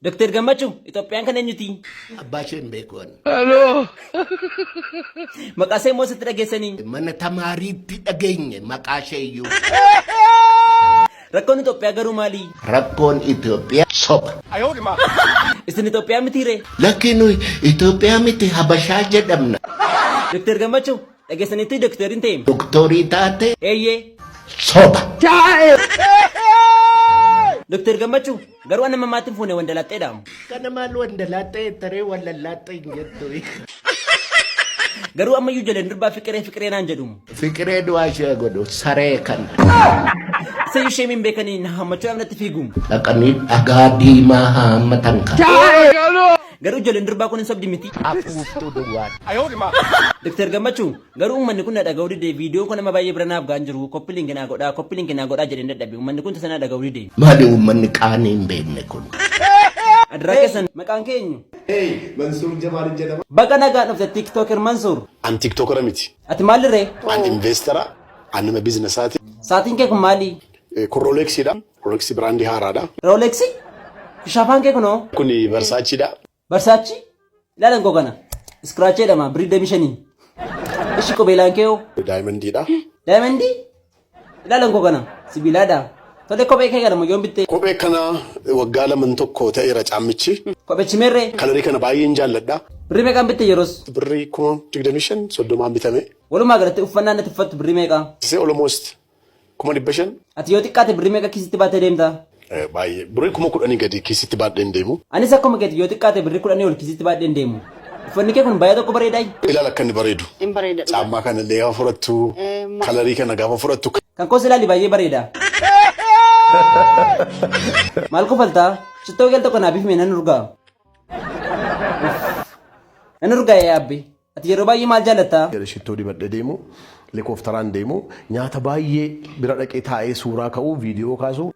Doktar Gammachuu Itoophiyaan kan eenyuti? Abbaa ishee hin beeku ani. Aloo! Maqaa ishee immoo sitti dhageessanii? Mana tamaariitti dhageenye maqaa ishee iyyuu. Rakkoon Itoophiyaa garuu maalii? Rakkoon Itoophiyaa soba. Isin Itoophiyaa mitii ree? Lakkii nuyi Itoophiyaa miti Habashaa jedhamna. Doktar Gammachuu, dhageessaniittii doktar hin ta'e? Doktorii taatee? Eeyyee. Soba. Doktar Gammachuu, Garuu anna mammaatti hin fuune wandalaaxxee dhaamu. Kana maal wandalaaxxee jettaree wallallaaxxee hin jettu. Garuu ammayyuu jaleen durbaa fiqiree fiqiree naan jedhumu. Fiqiree du'aa ishee godhu saree kan. Sayyuu ishee min beekanii na hammachuudhaaf natti fiigumu. Dhaqanii dhagaa diimaa haammatan kan. Garuu jaleen durbaa kun hin sobdi miti. Afuuftuu duwwaa. Doktar Gammachuu Garuu ummanni kun na dhaga'uu dide viidiyoon kun amma baay'ee bira naaf ga'an jiru koppi linki naa godhaa koppi linki naa godhaa jedheen dadhabe ummanni kun tasa na dhaga'uu dide. Maali uummanni qaanii hin beekne kun. Adraa keessan maqaan kee eenyu? Hey, Mansuur Jamaal jedhama. Baga nagaan dhufte tiktoker Mansuur. An tiktokera miti. Ati maalli ree? An investera. An nama bizinesaati. Saatiin kee kun maali? Kun Rolexiidha. Rolex biraandii haaraadha. Rolex? Shafaan kee kunoo? Kun Versaceedha. Barsaachi ilaalan koo kana iskiraachee jedhama birrii damii shanii. Ishi qubeelaan kee hoo? Daayimandiidha. Daayimandii ilaalan koo kana sibiilaadha. Tole kophee kee kana moyyoon bittee. Kophee kana waggaa laman tokko ta'eera caammichi. Kophechi meerree? Kalarii kana baay'een jaalladha. Birrii meeqaan bitte yeroos? Birrii kuma digdamii shan soddomaan bitame. Walumaa galatti uffannaan natti uffattu birrii meeqaa? Isee almost kuma dhibba shan. Ati yoo xiqqaate birrii meeqa kiisitti baattee deemta? Baay'ee birrii kuma kudhanii gadi kiisitti baadhee hin deemu. Anis akkuma keeti yoo xiqqaate birrii kudhanii ol kiisitti baadhee hin deemu. Uffanni kee kun baay'ee tokko bareedaayi. Ilaal akka inni bareedu. In bareeda dhugaa. Caammaa kana illee gaafa fudhattu, kalarii kana gaafa fudhattu. Kan koos ilaali baay'ee bareeda. Maal kofaltaa? Shittoo geel tokko naa bifime nan urgaa. Nan urgaa yaa abbi. Ati yeroo baay'ee maal jaallatta? Shittoo dibadhee deemu, likooftaraan deemu, nyaata baay'ee bira dhaqee taa'ee suuraa ka'u, viidiyoo kaasu.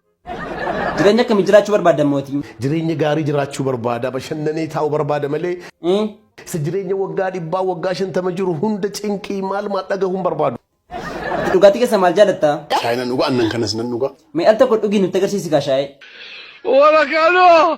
Jireenya akkamii jiraachuu barbaadda mootii? Jireenya gaarii jiraachuu barbaada, bashannanee taa'u barbaada malee. Ee? Isa jireenya waggaa dhibbaa, waggaa shantama jiru hunda cinqii maal maal dhagahuun barbaadu. Ati dhugaatii keessa maal jaallatta? Shaayii nan dhuga, aannan kanas nan dhuga. Mee al tokko dhugii nutti agarsiisi kaa shaayee. Warakanoo!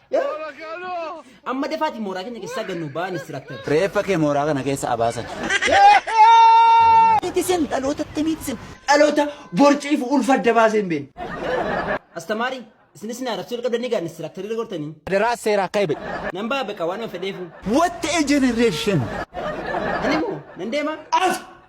Amma defaati mooraa keenya keessaa gannu ba'an istiraaktar. Reeffa kee mooraa kana keessa abaasan. Tisen dhaloota ttemii tisen dhaloota borciif ulfa adda baasee hin beekne. Astamaari isinis na arrabsuu jalqabdanii gaa istiraaktarii irra gortanii. Adaraa seera akka ebe. Nan ba'a beqa waan an fedheefu. What a generation! Ani moo nan deema. As!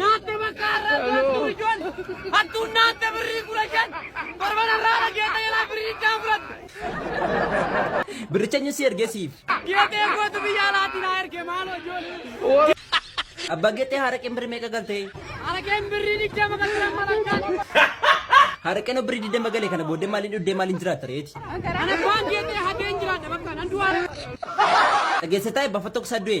Naatte bakka har'aa to'attu ijoon hattuun naatte birrii kudha shan torban har'aa irra geeta jalaa birrii kaan fudhatte. Birricha eenyu si ergee siif? Geetee gootu biyya alaatiin haa erge maaloo ijoollee. Abbaa geexee haraqeen birri meeqa galtee? Haraqeen birrii digdama kan jiran malakkaan. Haraqeen birri digdama galee kana booddee maaliin dhuddee maaliin jiraatta reeti? Ana abbaan geetee hateen jiraadha bakka nan du'aa. Dhageessee taa'e bafa tokko isaa du'e.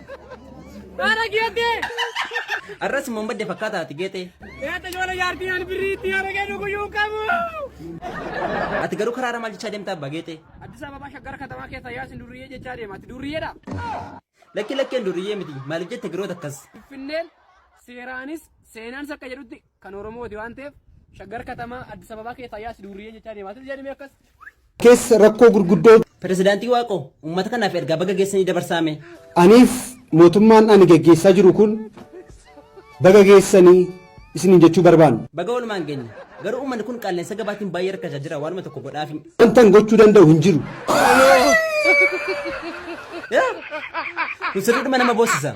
Baara geetee. Arras immoo madde fakkaataa ati geetee. Geete ijoollee jaartii ani birrii itti argee dhuguyyuu qabu. Ati garuu karaara maal jechaa deemtaa abbaa geetee? Addis Ababaa shaggara katamaa keessa yaasin durriyyee jechaa deema. Ati durriyyeedha. Lakki lakkeen duriyyee miti maaliif jette giroota akkas. Finfinneen seeraanis seenaanis akka jedhutti kan Oromooti waan ta'eef Shaggar Katamaa Addis Ababaa keessa ayyaas duurriyyee jechaa deemaa ture jedhame akkas. keessa rakkoo gurguddoo Pirezidaantii Waaqoo uummata kanaaf ergaa baga geessanii dabarsaame. aniif mootummaan ani gaggeessaa jiru kun baga geessanii isiniin jechuu barbaanna. Baga walumaan geenye. Garuu uummanni kun qaala'insa gabaatiin baay'ee rakkachaa jira waanuma tokko godhaafi. Wantan gochuu danda'u hin jiru. Kun sirriidhuma nama boossisa.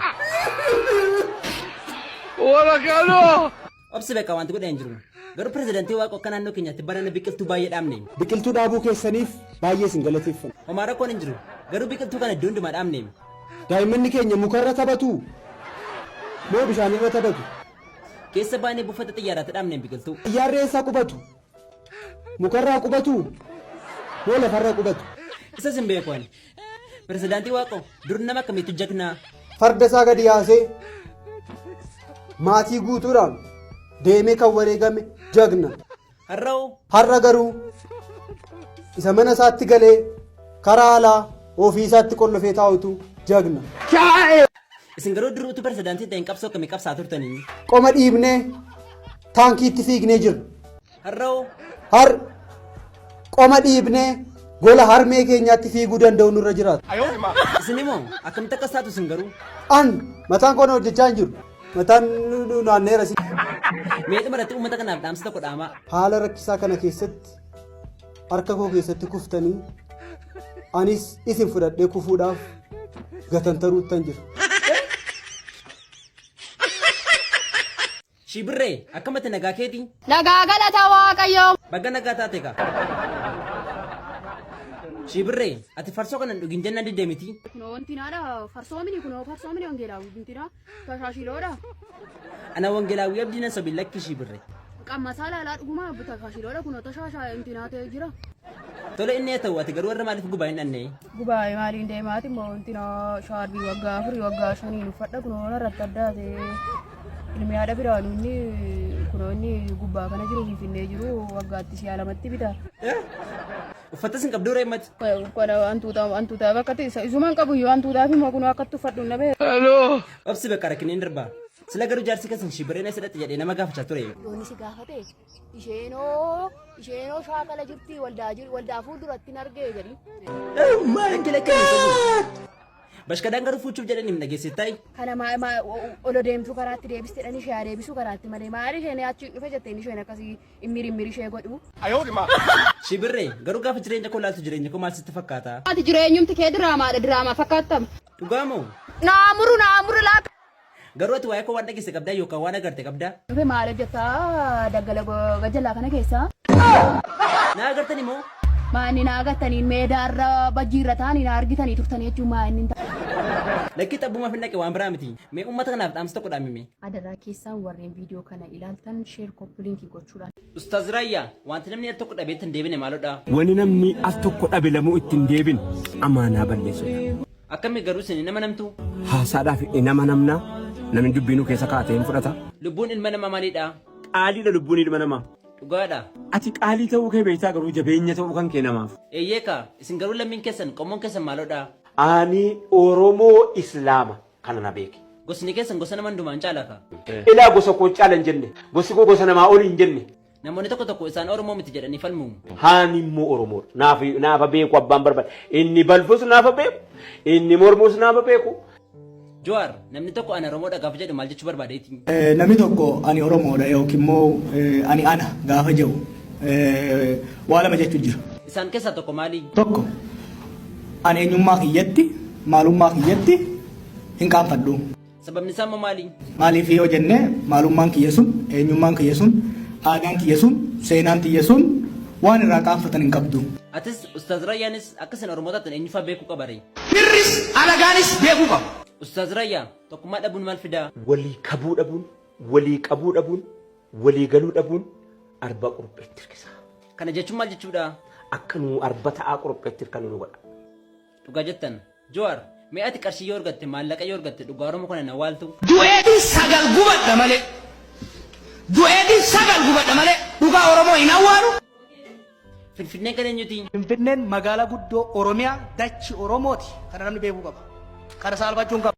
Obsi beekaa wanti godhee hin jiru. Garuu pirezidantii waaqa akka naannoo keenyaatti barana biqiltuu baay'ee dhaabne. Biqiltuu dhaabuu keessaniif baay'ee isin galateeffanna. Homaa rakkoon hin jiru. Garuu biqiltuu kana iddoo hundumaa dhaabne. Daa'immanni keenya mukarra taphatu moo bishaanirra taphatu? Keessa baanee buufata xiyyaaraatti dhaabne biqiltuu. Xiyyaarri eessaa qubatu? Mukarraa qubatu moo lafarra qubatu? Isas hin beeku ani. Pirezidaantii Waaqoo dur nama akkamiitu jagnaa? Farda isaa gadi yaasee maatii guutuudhaan deemee kan wareegame jagna. Har'oo Har'a garuu isa mana isaatti galee karaa alaa ofii isaatti qollofee taa'utu jagna. Isin garuu dur utuu pirezidaantii ta'een qabsoo akkamii qabsaa turtanii? Qoma dhiibnee taankiitti fiignee jirra. Har'oo Har qoma dhiibnee gola harmee keenyaatti fiiguu danda'u nurra jiraata. isin immoo akkamitti akkas taatu isin garuu? An mataan koona hojjechaa hin jiru. Mataan nu- nu naanneera si. Mee dhumarratti uummata kanaaf dhaamsa tokko dhaamaa. Haala rakkisaa kana keessatti harka koo keessatti kuftanii anis isin fudhadhee kufuudhaaf gatantaruuttan jira. Shibirree akkamatti nagaa keetii? Nagaa galata waaqayyoo. Baga nagaa taate gaa. Shibirree ati farsoo kana hin dhugin jennaan didde miti. Kunoo wanti naadha farsoomini kunoo farsoomini wangeelaa wanti naadha. Tashaashiloodha. Ana Wangelaawwii Abdii nan sobi lakki ishii birre. Qammasaa laalaa dhugumaa abbu tashaashiloodha kunoo tashaashaa intinaa ta'ee jira. Tole inni haa ta'u ati garuu warra maaliif gubaa hin dhannee? Gubaa'ee maaliin deemaati immoo intinaa shaarbii waggaa afurii waggaa shanii uffadha kunoo irratti addaa ta'ee ilmi haadha biraa nuunni kunoo inni gubbaa kana jiru finfinnee jiru waggaatti si'a lamatti bita. Uffatas hin qabduu ree mati. Uffata waan tuutaa waan tuutaa bakka ta'e isumaan qabu yoo waan tuutaa fi mokunuu akkatti uffadhu na bee. Obsi bakka rakkineen darbaa. Sila garuu jaarsi keessan shibireen as hidhatte jedhee nama gaafachaa ture. Yooni si gaafate isheenoo isheenoo shaakala jirti waldaa jir waldaa fuulduratti hin argee jedhi. Maal gila kan Bashkadaan garuu fuuchuuf jedhanii hin dhageessit ta'i. Kana maa maa olo deemtu karaatti deebistedhan ishee haa deebisu karaatti malee maali isheen achi dhufe jetteen isheen akkasii Immiri immiri ishee godhu. Ayoo dhimaa. Shibirree garuu gaafa jireenya koo laaltu jireenya koo maal sitti fakkaata? Ati jireenyumti kee diraamaadha diraamaa fakkaattam. Dhugaa moo? Naa muru naa muru laa. Garuu ati waa'ee koo waan dhageesse qabdaa yookaan waan agarte qabdaa? Dhufe maal hojjetta daggala gajjallaa kana keessa? Naa agartani moo? Maa inni naa agartaniin meedaa irra bajjii irra taa'anii naa argitanii turtanii jechuun maa inni hin ta'a. Lakkii xabbumaaf hin dhaqe waan biraa miti. Mee uummata kanaaf dhaamsa tokko dhaamimee. Adaraa keessaan warreen video kana ilaaltan share koppilinki gochuudhaan. Ustaz Rayya wanti namni al tokko dhabeetti hin deebine maalodha? Wani namni al tokko dhabe lamuu itti hin deebin amaanaa balleessuudha. Akkami garuu isin hin amanamtu? Haasaadhaaf hin amanamna namni dubbiinuu keessa kaa'ate hin fudhata. Lubbuun ilma namaa maalidha? Qaaliidha lubbuun ilma namaa. Dhugaadha. Ati qaalii ta'uu kee beektaa garuu jabeenya ta'uu kan kee namaaf. Eeyyee kaa isin garuu lammiin keessan qommoon keessan maalodha? Ani Oromoo Islaama. kana na beeki. Gosni keessan gosa nama hundumaan caala ka. Ilaa gosa koo caala hin jenne. Gosi koo gosa namaa oli hin jenne. Namoonni tokko tokko isaan Oromoo miti jedhanii falmu. Haani immoo Oromoodha. Naaf naafa beeku abbaan barbaade. Inni balfus naafa beeku. Inni mormus naafa beeku. Jowaar, namni tokko ana Oromoodha gaafa jedhu maal jechuu barbaadeeti? Eh, Namni tokko ani Oromoodha yookiin immoo eh, ani ana gaafa jedhu eh, waa lama jechuun jira. Isaan keessaa tokko maali? Tokko An eenyummaa kiyyatti, maalummaa kiyyatti hin qaanfadhu. Sababni isaa immoo maali? Maaliif yoo jenne maalummaan kiyya sun, eenyummaan kiyya sun, aadaan kiyya sun, seenaan kiyya sun waan irraa qaanfatan hin qabdu. Atis Ustaaz Rayyaanis akka isin Oromoo taatan eenyufaa beekuu qaba ree? Firris alagaanis beekuu qaba. Ustaaz Rayyaa, tokkummaa dhabuun maal fidaa? Walii kabuu dhabuun, walii qabuu dhabuun Walii galuu dhabuun arba qurupheetti hirkisa. Kana jechuun maal jechuudha? Akka nu arba ta'aa qurupheetti hirkannu nu godha. Dhugaa jettan. Jowaar, mee ati qarshii yoo argatte, maallaqa yoo argatte dhugaa Oromoo kana hin awwaaltu? Du'eetin sagal gubadha malee. Du'eetin sagal gubadha malee dhugaa Oromoo hin awwaalu. Finfinneen kan eenyuti? Finfinneen magaalaa guddoo Oromiyaa dachi Oromooti. Kana namni beekuu qaba. Kana saalfachuun qaba.